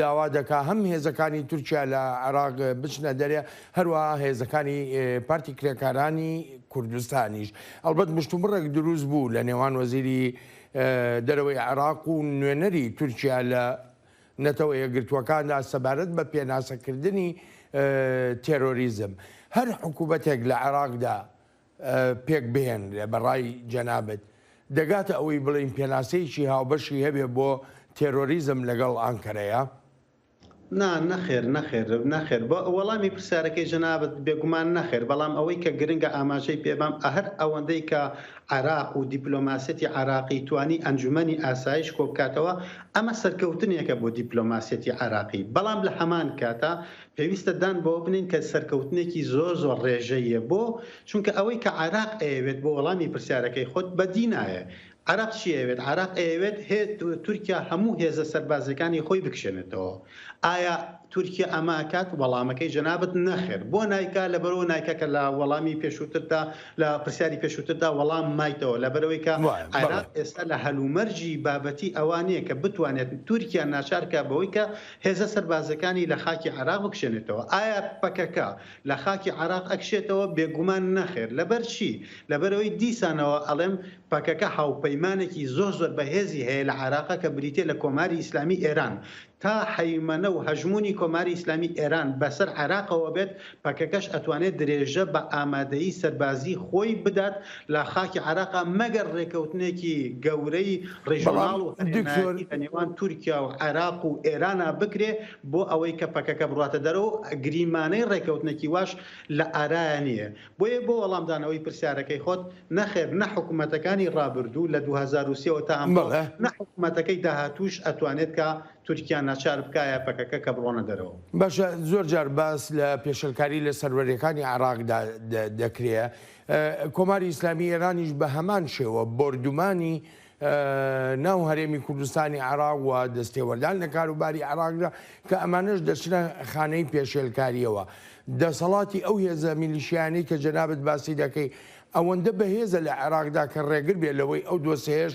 داوا دەکات هەم هێزەکانی تورکیا لە عێراق بچنە دەرێ، هەروەها هێزەکانی پارتی کرێکارانی کوردستانیش. ئەڵبەت مشتومڕێک دروست بوو لە نێوان وەزیری دەرەوەی عێراق و نوێنەری تورکیا لە نەتەوە یەکگرتووەکاندا سەبارەت بە پێناسەکردنی تێرۆریزم. هەر حکوومەتێک لە عێراقدا پێک بهێنرێ بە ڕای جەنابت دەگاتە ئەوەی بڵێین پێناسەیەکی هاوبەشی هەبێ بۆ تێرۆریزم لەگەڵ ئانکەرەیا؟ نا نەخێر نەخێر نەخێر بۆ وەڵامی پرسیارەکەی جەنابت بێگومان نەخێر بەڵام ئەوەی کە گرنگە ئاماژەی پێ بەم ئەهەر ئەوەندەی کە عێراق و دیپلۆماسیەتی عێراقی توانی ئەنجومەنی ئاسایش کۆبکاتەوە ئەمە سەرکەوتنێکە بۆ دیپلۆماسیەتی عێراقی بەڵام لە هەمان کاتا پێویستە دان بەوە بنێین کە سەرکەوتنێکی زۆر زۆر ڕێژەییە، بۆ؟ چونکە ئەوەی کە عێراق ئەیەوێت، بۆ وەڵامی پرسیارەکەی خۆت، بەدی نایە. عێراق چی ئەیەوێت؟ عێراق ئەیەوێت هێ تورکیا هەموو هێزە سەربازییەکانی خۆی بکشێنێتەوە. ئایا تورکیا ئەمە ئەکات؟ وەڵامەکەی جەنابت نەخێر. بۆ نایکا؟ لەبەرئەوە نایکا کە لە وەڵامی پێشووتردا، لە پرسیاری پێشووتردا وەڵام مایتەوە. لەبەرئەوەی کە عێراق ئێستا لە هەلومەرجی بابەتی ئەوە نییە کە بتوانێت تورکیا ناچار بکات بەوەی کە هێزە سەربازەکانی لە خاکی عێراق بکشێنێتەوە. ئایا پەکەکە لە خاکی عێراق ئەکشێتەوە؟ بێگومان نەخێر. لەبەرچی؟ لەبەرئەوەی دیسانەوە ئەڵێم پەکەکە هاوپەیمانێکی زۆر زۆر بەهێزی هەیە لە عێراق کە بریتیە لە کۆماری ئیسلامی ئێران. تا هەیمەنە و هەژموونی کۆماری ئیسلامی ئێران بەسەر عێراقەوە بێت پەکەکەش ئەتوانێت درێژە بە ئامادەیی سەربازی خۆی بدات لە خاکی عێراقا مەگەر رێکەوتنێکی گەورەی ریژۆناڵ و هەرێمایەتی لە نێوان تورکیا و عێراق و ئێرانا بکرێ بۆ ئەوەی کە پەکەکە بڕواتە دەرەوە و گریمانەی رێکەوتنێکی واش لە ئارایا نییە. بۆیە بۆ وەڵامدانەوەی پرسیارەکەی خۆت، نەخێر نە حکومەتەکانی رابردوو لە دوو هەزار و سێ وە تا ئەمڕۆ نە حکومەتەکەی داهاتووش ئەتوانێت کە تورکیا ناچار بکایە پەکەکە کە بڕۆنە دەرەوە. باشە زۆر جار باس لە پێشەلکاری لە سەروەریەکانی عێراقدا دەکرێ کۆماری ئیسلامی ئێرانیش بە هەمان شێوە بۆردومانی ناو هەرێمی کوردستانی عراق و دەستێوەردان لە کاروباری عراقدا کە ئەمانش دەچنە خانەی پێشێلکاریەوە دەسەڵاتی ئەو هێزە میلیشیانی کە جەنابەت باسی دەکەی ئەوەندە بەهێزە لە عێراقدا کە ڕێگر بێ لەوەی ئەو دۆسەیەش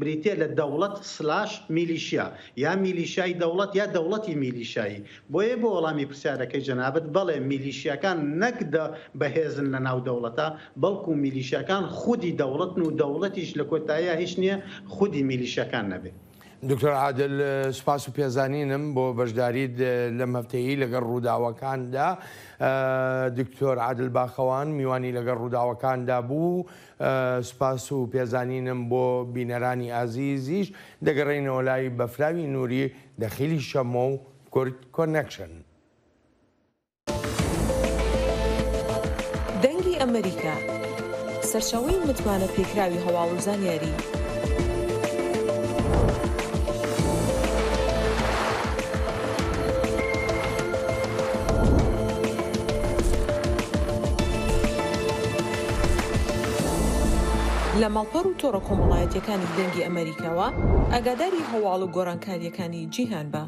بریتیە لە دەوڵەت سلاش میلیشیا، یا میلیشیای دەوڵەت یا دەوڵەتی میلیشیایی، بۆیە بۆ وەڵامی پرسیارەکەی جەنابت، بەڵێ میلیشیاکان نەک دە بەهێزن لە ناو دەوڵەتا، بەڵکو میلیشیاکان خودی دەوڵەتن و دەوڵەتیش لە کۆتاییا هیچ نیە خودی میلیشیاکان نەبێ. دکتۆر عادل سوپاس و پێزانینم بۆ بەشداریت لەم هەفتەیەی لەگەڵ ڕووداوەکاندا. دکتۆر عادل باخەوان میوانی لەگەڵ ڕووداوەکاندا بوو. سپاس و پێزانینم بۆ بینەرانی ئازیزیش، دەگەڕێینەوە لای بەفراوی نوری دەخیلی شەمۆ و کورد کۆنەکشن. دەنگی ئەمەریکا، سەرچاوەی متمانە پێکراوی هەواڵ و زانیاری. لە ماڵپەڕ و تۆڕە کۆمەڵایەتییەکانی دەنگی ئەمەریکاوە ئاگاداری هەواڵ و گۆڕانکارییەکانی جیهان بە.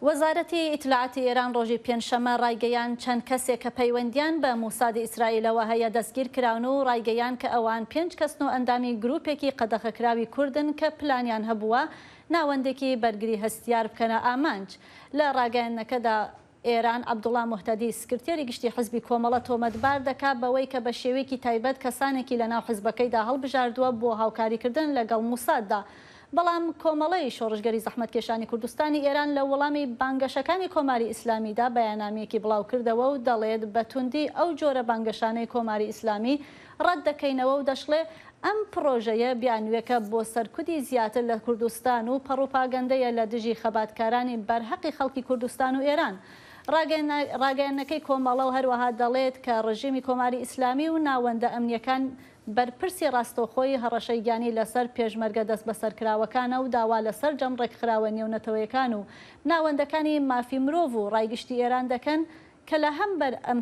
وەزارەتی ئیتلاعاتی ئێران ڕۆژی پێنجشەممە ڕایگەیاند، چەند کەسێک کە پەیوەندییان بە موسادی ئیسرائیلەوە هەیە دەستگیرکراون و ڕایگەیاند کە ئەوان پێنج کەسن و ئەندامی گرووپێکی قەدەخەکراوی کوردن کە پلانیان هەبووە ناوەندێکی بەرگری هەستیار بکەنە ئامانج. لە ڕاگەیاندنەکەدا ئێران، عەبدوڵا موهتەدی، سکرتێری گشتی حزبی کۆمەڵە تۆمەتبار دەکات بەوەی کە بە شێوەیەکی تایبەت کەسانێکی لەناو حزبەکەیدا هەڵبژاردووە بۆ هاوکاریکردن لەگەڵ موساددا. بەڵام کۆمەڵەی شۆڕشگەری زەحمەتکێشانی کوردستانی ئێران لە وەڵامی بانگەشەکانی کۆماری ئیسلامیدا بەیاننامیەکی بڵاوکردەوە و دەڵێت بە توندی ئەو جۆرە بانگەشانەی کۆماری ئیسلامی ڕەت دەکەینەوە و دەشڵێ ئەم پڕۆژەیە بیانووێکە بۆ سەرکوتی زیاتر لە کوردستان و پەڕوپاگەندەیە لە دژی خەباتکارانی بەرهەقی خەڵکی کوردستان و ئێران. ڕاگەیەننەکەی کۆمەڵە هەروەها دەڵێت کە ڕژێمی کۆماری ئیسلامی و ناوەندە ئەمنییەکان بەرپرسی ڕاستەوخۆی هەڕەشەی گیانی لەسەر پێشمەرگە دەستبەسەرکراوەکانە و داوا لە سەرجەم ڕێکخراوە نێونەتەوەیەکان و ناوەندەکانی مافی مرۆڤ و ڕای گشتی ئێران دەکەن کە لە هەم بەر ئەم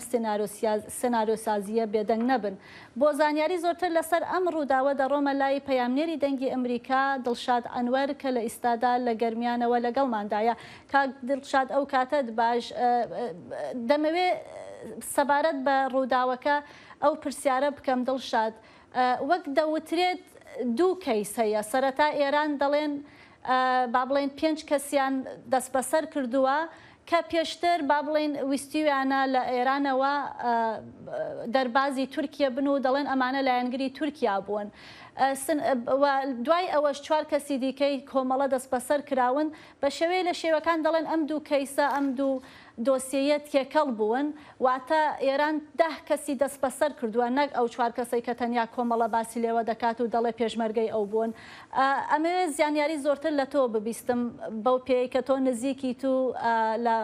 سنارۆ سازییە بێدەنگ نەبن. بۆ زانیاری زۆرتر لە سەر ئەم ڕووداوە دەڕۆمە لای پەیامنێری دەنگی ئەمریکا دڵشاد ئەنوەر کە لە ئیستادا لە گەرمیانەوە لە گەڵماندایە. کاک دڵشاد ئەو کاتەت باش. دەمەوێ سەبارەت بە ڕووداوەکە ئەو پرسیارە بکەم دڵشاد وەک دەوترێت دوو کەیس هەیە سەرەتا ئێران دەڵێن با بڵێین پێنج کەسیان دەستبەسەر کردووە کە پێشتر با بڵێین ویستیویانە لە ئێرانەوە دەربازی تورکیە بن و دەڵێن ئەمانە لایەنگری تورکیا بوون و دوای ئەوەش چوار کەسی دیکەی کۆمەڵە دەستبەسەر کراون بە شێوەیە لە شێوەکان دەڵێن ئەم دوو کەیسە ئەم دوو دۆسیەیە تێکەڵ بوون، واتە ئێران دە کەسی دەستبەسەر کردووە نەک ئەو چوار کەسەی کە تەنیا کۆمەڵە باسی لێوە دەکات و دەڵێ پێشمەرگەی ئەو بوون. ئەمەوێ زیانیاری زۆرتر لە تۆ ببیستم بەو پێیەی کە تۆ نزیکیت و لە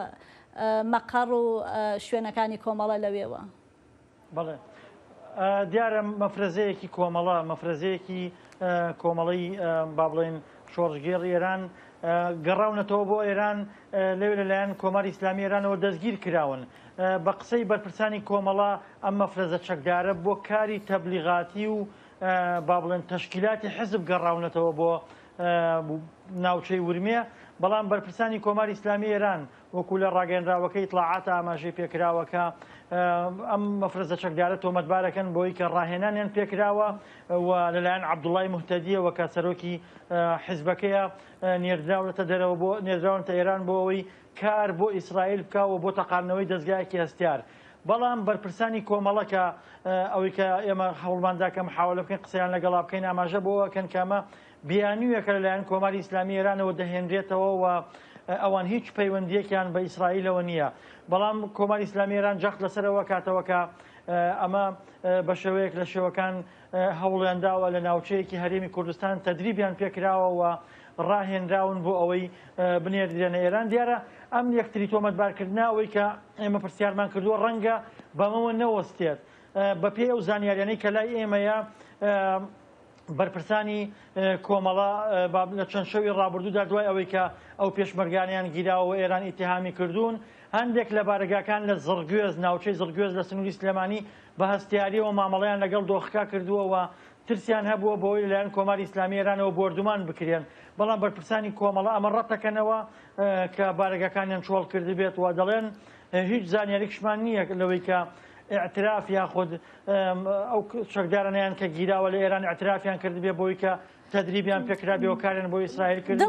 مەقەڕ و شوێنەکانی کۆمەڵە لەوێوە. بەڵێ دیارە مەفرەزەیەکی کۆمەڵە مەفرەزەیەکی کۆمەڵی با بڵێن شۆڕژگێڕ ئێران گەڕاونەتەوە بۆ ئێران لەوێ لەلایەن کۆماری ئیسلامی ئێرانەوە دەستگیر کراون بە قسەی بەرپرسانی کۆمەڵە ئەم مەفرەزە چەکدارە بۆ کاری تەبلیغاتی و با بڵێن تەشکیلاتی حزب گەڕاونەتەوە بۆ ناوچەی ورمێ بەڵام بەرپرسانی کۆماری ئیسلامی ئێران وەکو لە ڕاگەیەنراوەکە ئیتڵاعاتە ئاماژەی پێکراوە کە ئەم مەفرەزە چەکدارە تۆمەتبارەکەن بۆی کە ڕاهێنانیان پێکراوە و لەلایەن عەبدوڵای موهتەدیەوە کە سەرۆکی حیزبەکەیە نێردراونەتە دەرەوە بۆ نێردراونەتە ئێران بۆ ئەوەی کار بۆ ئیسرائیل بکاوە بۆ تەقاندنەوەی دەزگایەکی هەستیار بەڵام بەرپرسانی کۆمەڵە کە ئەوەی کە ئێمە هەوڵماندا کە محاولە بکەین قسەیان لەگەڵا بکەین ئاماژە بۆ ئەکەن کە ئەمە بیانوویەکە لەلایەن کۆماری ئیسلامی ئێرانەوە دەهێنرێتەوە و ئەوان هیچ پەیوەندییەکیان بە ئیسرائیلەوە نییە، بەڵام کۆماری ئیسلامی ئێران جەخت لەسەر ئەوە کاتەوە کە ئەمە بە شێوەیەک لە شێوەکان هەوڵیان داوە لە ناوچەیەکی هەرێمی کوردستان تەدریبیان پێکراوە و ڕاهێنراون بۆ ئەوەی بنێردرێنە ئێران دیارە ئەم یەکتری تۆمەتبارکردنا ئەوەی کە ئێمە پرسیارمان کردووە ڕەنگە بەمەوە نەوەستێت بەپێی ئەو زانیاریانەی کە لای ئێمەیە بەرپرسانی کۆمەڵە لە چەند شەوی ڕابردوودا دوای ئەوەی کە ئەو پێشمەرگانەیان گیراوە و ئێران ئیتیهامی کردوون، هەندێک لە بارەگاکان لە زڕگوێز، ناوچەی زڕگوێز لە سنووری سلێمانی، بە هەستیارییەوە مامەڵەیان لەگەڵ دۆخەکە کردووە و ترسیان هەبووە بەوەی لەلایەن کۆماری ئیسلامیی ئێرانەوە بۆردومان بکرێن، بەڵام بەرپرسانی کۆمەڵە ئەمە ڕەتدەکەنەوە کە بارەگاکانیان چۆڵکردبێت و دەڵێن، هیچ زانیاریکشمان نییە لەوەی کە ئیعتراف یاخود ئەو چەکدارانەیان کە گیراوە لە ئێران ئەترافیان کردبێ بۆی کە تدریبیان پێکرابێ و کارێن بۆ ئیسرائیل کرد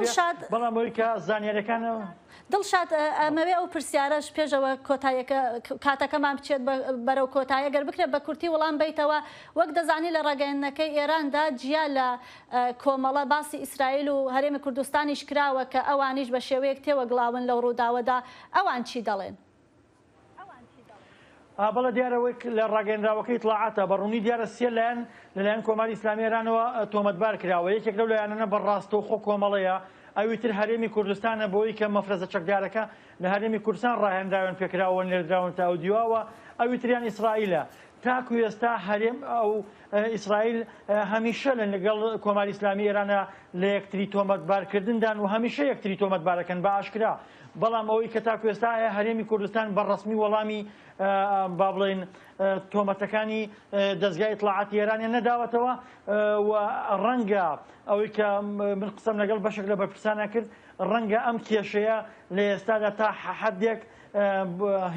بەڵام بۆی کە زانانیارەکانەوە دڵشاد ئەمەوێ ئەو پرسیارەش پێشەوە کۆتایەکە کاتەکەمان بچێت بەرەو کۆتایە گەر بکرێت بە کورتی وڵام بیتەوە وەک دەزانی لە ڕاگەیندنەکەی ئێراندا جیا لە کۆمەڵە باسی ئیسرائیل و هەرێمی کوردستانیش کراوە کە ئەوانیش بە شێوەیەک تێوەگلاون لەو ڕووداوەدا ئەوان چی دەڵێن؟ بەڵێ دیارە وەک لە ڕاگەیەنراوەکەی ئیتڵاعاتدا بە ڕوونی دیارە سێ لایەن لەلایەن کۆماری ئیسلامیی ئێرانەوە تۆمەتبار کراوە، یەکێک لەو لایەنانە بە ڕاستەوخۆ کۆمەڵەیە، ئەوی تر هەرێمی کوردستانە بەوەی کە مەفرەزە چەکدارەکە لە هەرێمی کوردستان ڕاهێنراوێن پێکراوە و نێردراون تا ئەو دیوە و ئەوی تریان ئیسرائیلە. تاکوو ئێستا هەرێم و ئیسرائیل هەمیشە لەگەڵ کۆماری ئیسلامیی ئێرانە لە یەکتری تۆمەتبارکردندان و هەمیشە یەکتری تۆمەتبارەکەن بە ئاشکرا بەڵام ئەوەی کە تاکو ئێستا ئایا هەرێمی کوردستان بە ڕەسمی وەڵامی با بڵێین تۆمەتەکانی دەزگای ئیتڵاعاتی ئێرانیان نەداوەتەوە و ڕەنگە ئەوەی کە من قسەم لەگەڵ بەشێک لە بەرپرسانە کرد ڕەنگە ئەم کێشەیە لە ئێستادا تا حەحەدێک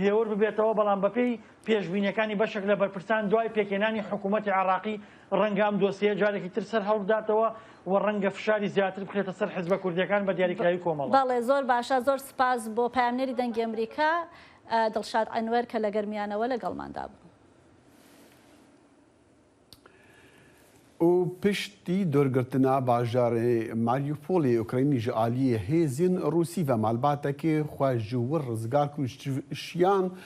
هێور ببێتەوە بەڵام بەپێی پێشبینیەکانی بەشێک لە بەرپرسان دوای پێکهێنانی حکوومەتی عێڕاقی ڕەنگە ئەم دۆسیەیە جارێکی تر سەر هەڵبداتەوە و ڕەنگە فشاری زیاتر بخرێتە سەر حزبە کوردییەکان بە دیاریکراوی کۆمەڵە. بەڵێ زۆر باشە زۆر سوپاس بۆ پەیامنێری دەنگی ئەمریکا دڵشاد ئەنوەر کە لە گەرمیانەوە لەگەڵماندا بوو. ئو پشت ی دورگرتنا باژار ی ماریوپول ی ئوکراینی ژە ئالی هیزین روسی ڤە مالباتە ک خوە ژوور رزگار کوشتشیان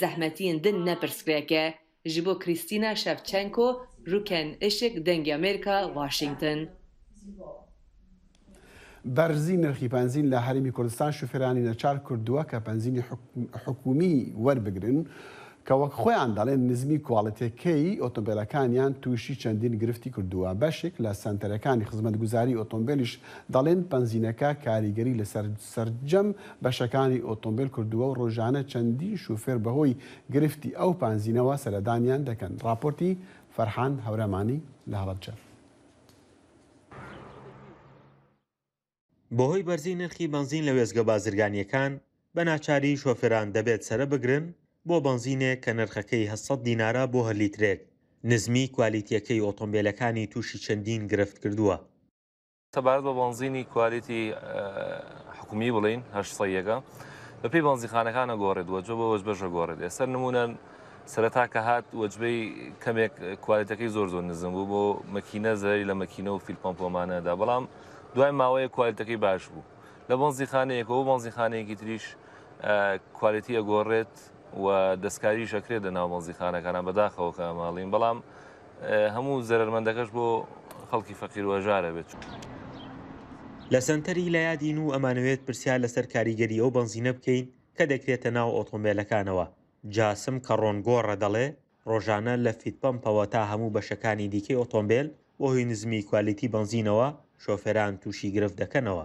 زەحمەتین دن نە پرسکرێکێ ژ بۆ کریستینا شەفچەنکۆ روکێن ئشک دەنگی ئەمێرکا واشینگتن. بەرزی نرخی پەنزین لە هەرێمی کوردستان شوفێرانی نەچار کردووە کە پەنزینی حکومی وەربگرن کە وەک خۆیان دەڵێن نزمی کواڵتێکەی ئۆتۆمبێلەکانیان تووشی چەندین گرفتی کردووە بەشێک لە سەنتەرەکانی خزمەتگوزاری ئۆتۆمبێلیش دەڵێن پەنزینەکە کاریگەری لەسەر سەرجەم بەشەکانی ئۆتۆمبێل کردووە و رۆژانە چەندین شوفێر بەهۆی گرفتی ئەو پانزینەوە سەردانیان دەکەن. راپۆرتی فەرحان هەورامانی لە هەڵەبجە. بەهۆی بەرزی نرخی بەنزین لە وێستگە بازرگانییەکان، بە ناچاری شۆفێران دەبێت سەرە بگرن بۆ بەنزینێک کە نرخەکەی هەشت سەد دینارە بۆ هەر لیترێک، نزمیی کوالیتییەکەی ئۆتۆمبێلەکانی تووشی چەندین گرفت کردووە. سەبارەت بە بەنزینی کوالێتی حکومی بڵین هەشت سەیەکە بەپی بەنزیخانەکانە گۆڕێت وەجۆ بە وەج بەژە گۆڕێت ئێستا نمونە سەرەتا کە هات وەجبەی کەمێک کوالێتەکەی زۆر زۆر نزم بوو بۆ مەکینە زەری لە مەکینە و فیلپەمپۆمانەدا بەڵام دوای ماوەیە کوالێتەکەی باش بوو لە بەنزیخانەیەکە و بەنزیخانەیەکی تریش کوالێتی ئەگۆڕێت و دەستکاریش ئەکرێت لە ناومەزیخانەکانە بەداخەوەکە ماڵین بەڵام هەموو زەرەرمەندەکەش بۆ خەڵکی فەقیرو هەژارە بێت. لە سەنتەری لەیادین و ئەمانەوێت پرسیار لەسەر کاریگەری ئەو بەنزینە بکەین کە دەکرێتە ناو ئۆتۆمبێلەکانەوە، جاسم کەڕۆنگۆڕە دەڵێ ڕۆژانە لە فیت پەمپەوە تا هەموو بەشەکانی دیکەی ئۆتۆمبێل بەهۆی نزمی کوالیتی بەنزینەوە شۆفێران تووشی گرفت دەکەنەوە.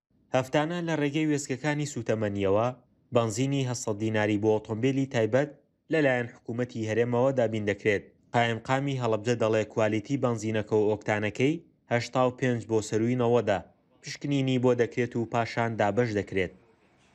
هەفتانە لە ڕێگەی وێستگەکانی سووتەمەنییەوە بەنزینی هەشت سەد دیناری بۆ ئۆتۆمبێلی تایبەت لەلایەن حکوومەتی هەرێمەوە دابین دەکرێت. قایمقامی هەڵەبجە دەڵێ کوالیتی بەنزینەکە و ئۆکتانەکەی هەشتا و پێنج بۆ سەرووی نەوەدە، پشکنینی بۆ دەکرێت و پاشان دابەش دەکرێت.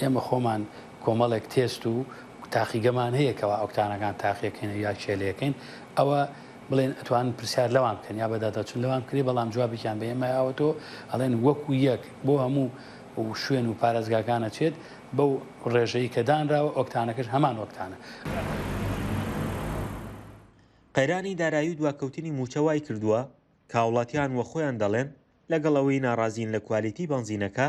ئێمە خۆمان کۆمەڵێک تێست و تاقیگەمان هەیە کەوا ئۆکتانەکان تاقیەکەین و یا کێلێکەین ئەوە بڵێن ئەتوان پرسیار لەوان بکەن یا بەداداچون لەوان بکری بەڵام جوابیان بە ئێمە یاوەتۆ ئەڵێن وەکو یەک بۆ هەموو و شوێن و پارێزگاکانە چێت بەو ڕێژەی کە دانراوە ئۆکتانەکەش هەمان ئۆکتانە. قەیرانی دارایی و دواکەوتنی مووچە وایکردووە کە هاوڵاتیان وەخۆیان دەڵێن لەگەڵ ئەوەی ناڕازین لە کوالیتی بەنزینەکە،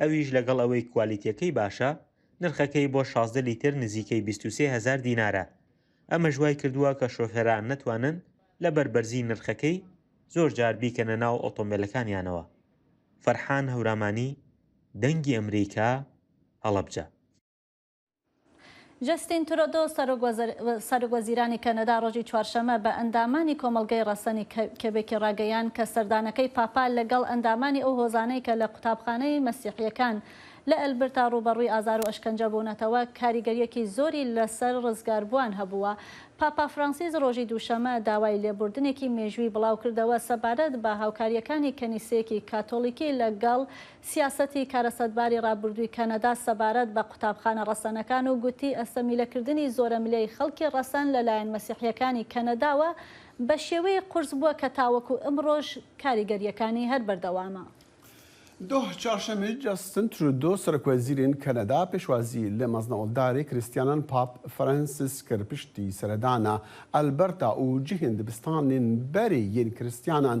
ئەویش لەگەڵ ئەوەی کوالیتیەکەی باشە، نرخەکەی بۆ شازدە لیتر نزیکەی بیست و سێ هەزار دینارە، ئەمەش وای کردووە کە شۆفێران نەتوانن لەبەر بەرزی نرخەکەی زۆر جار بیکەنە ناو ئۆتۆمبێلەکانیانەوە. فەرحان هەورامانی، دەنگی ئەمریکا، هەڵەبجە. جەستین ترۆدۆ، سەرۆکوەزیرانی کەنەدا ڕۆژی چوارشەممە بە ئەندامانی کۆمەڵگەی ڕەسەنی کێبێکی ڕاگەیاند کە سەردانەکەی پاپا لەگەڵ ئەندامانی ئەو هۆزانەی کە لە قوتابخانەی مەسیحییەکان لە ئەلبرتا ڕووبەڕووی ئازار و ئەشکەنجە بوونەتەوە کاریگەرییەکی زۆری لەسەر ڕزگاربووان هەبووە. پاپا فرانسیس ڕۆژی دووشەممە داوای لێبوردنێکی مێژووی بڵاوکردەوە سەبارەت بە هاوکارییەکانی کەنیسەیەکی کاتۆلیکی لەگەڵ سیاسەتی کارەساتباری ڕابردووی کەنەدا سەبارەت بە قوتابخانە ڕەسەنەکان و گوتی ئەستەمیلەکردنی زۆرەملێی خەڵکی ڕەسەن لەلایەن مەسیحییەکانی کەنەداوە بە شێوەیەک قورس بووە کە تاوەکو ئمڕۆش کاریگەرییەکانی هەر بەردەوامە. دهۆ چوارشەممە جەستن ترودۆ سەرۆکوەزیرین کەنەدا پێشوازی لە مەزنەوەڵداری کریستیانان پاپ فرەنسیس کرد پشتی سەردانە ئەلبەرتا ئو جهین دبستانین بەری ین کریستیانان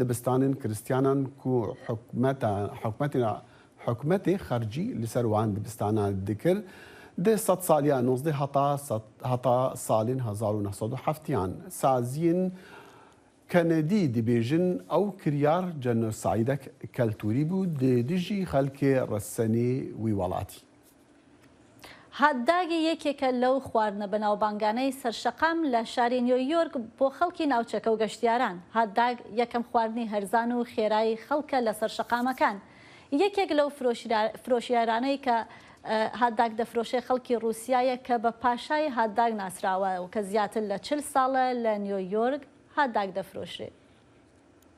دبستانن کرستیانان کو حکومەت حکومەت خەرجی لسەر وان دبستانا دکرد د سەد سالیا نوزدە هەتا سەد هەتا سالن هەزار و نە سەد و حەفتیان سازین کەنەدی دبێژن ئەو کریار جەنۆسایدەک کەلتوری بوو د دژی خەلک رەسەنی وی وەڵاتی. هات داگی یەکێکە لەو خواردنە بەناوبانگانەی سەر شەقام لە شاری نیۆ یۆرک بۆ خەڵکی ناوچەکە و گەشتیاران. هات داگ یەکەم خواردنی هەرزان و خێرای خەڵکە لەسەر شەقامەکان. یەکێک لەو فرۆشیارانەی کە هات داگ دەفرۆشێ خەڵکی ڕووسیایە کە بە پاشای هات داگ ناسراوە و کە زیاتر لە چل ساڵە لە نیۆ یۆرک هات داگ دەفرۆشرێ.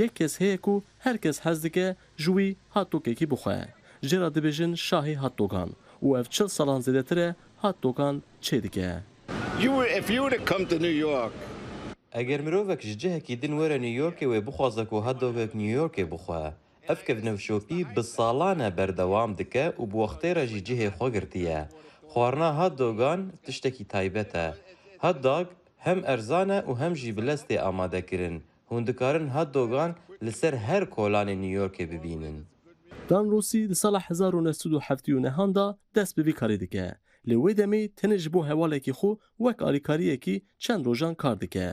یەک کەس هەیە کو هەر کەس حەز دکە ژووی هات دۆگێکی بخوایە ژێرا دبێژن شاهی هات دۆگان و ئەڤ چل سالان زێدەترە هات دۆگان چێ دکە. You were if you were to come to New York. ئەگەر مرۆڤەک ژ جهکی دن وەرە نیویۆرکێ وێ بخوازە کو هات دۆگێک نیویۆرکێ بخوایە ئەڤ کەڤنە و شۆپی ب سالانە بەردەوام دکە و ب وەختێ رە ژی جهێ خوە گرتیە خوارنا هات دۆگان تشتەکی تایبەتە هات داگ هەم ئەرزانە و هەم ژی ب لەستێ ئامادە کرن هوندکارن هات دۆگان لە سەر هەر کۆلانێ نیویۆرکێ ببینن. دان ڕوسی لە ساڵە هەزار و نۆ سەد و حەفت و نهان دا دەست بە ڤی کارێ دکە. لە وەی دەمێ تەنێ جبۆ هەوالێکی خو وەک ئالیکارییەکی چەن ڕۆژان کار دکە.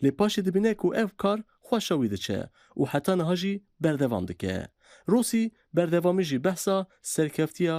لێ پاشێ دبینە کو ئەو کار خوەشە وی دچە و حەتا نها ژی بەردەوام دکە. ڕوسی بەردەوامی ژی بەحسا سەرکەفتییا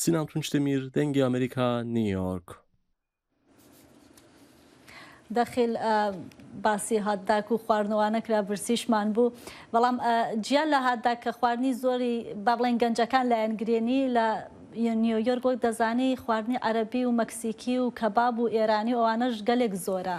سینان تونچ دەمیر، دەنگی ئەمەریکا، نیویۆرک. دەخیل باسی هاتداک و خواردنەوانە کرا برسیشمان بوو بەڵام جیا لە هاتداک کە خواردنی زۆری با بڵێن گەنجەکان لایەن گرێنی لە نیویۆرک وەک دەزانی خواردنی عەربی و مەکسیکی و کەباب و ئێرانی و ئەوانەش گەلێک زۆرە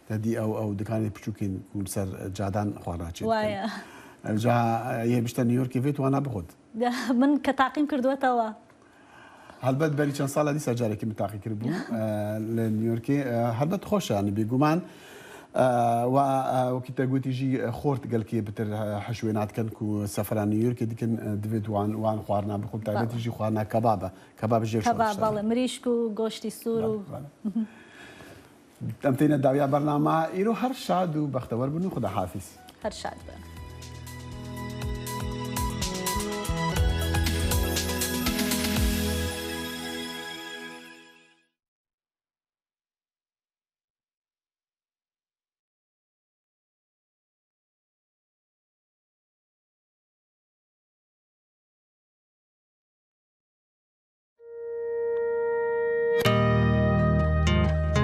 دەدی ئەو ئەو دکانی پچوکین کون سەر جادان خوا راچێ وایە جا یە بشتە نیویۆرکی ڤێت وانا بخۆت من کە تاقیم کردوەتەوە هەلبەت بەری چەند ساڵە دیسا جارێکی من تاقی کرد بوو لە نیویۆرکی هەلبەت خۆشە نبی گومان و وەکی تەگوتیژی خۆرت گەلکی بتر حشوێ ناتکەن و سەفران نیویۆرکی دیکن دەبێت وان وان خواردنا بخۆم تاگەتیژی خواردنا کەبابە کەباب ژێر مریشک و گۆشتی سوور و دەمتینە داویا بەرنامە ئیرۆ هەر شاد و بەختەوەر بن و خودا حافیز. هەر شاد بن.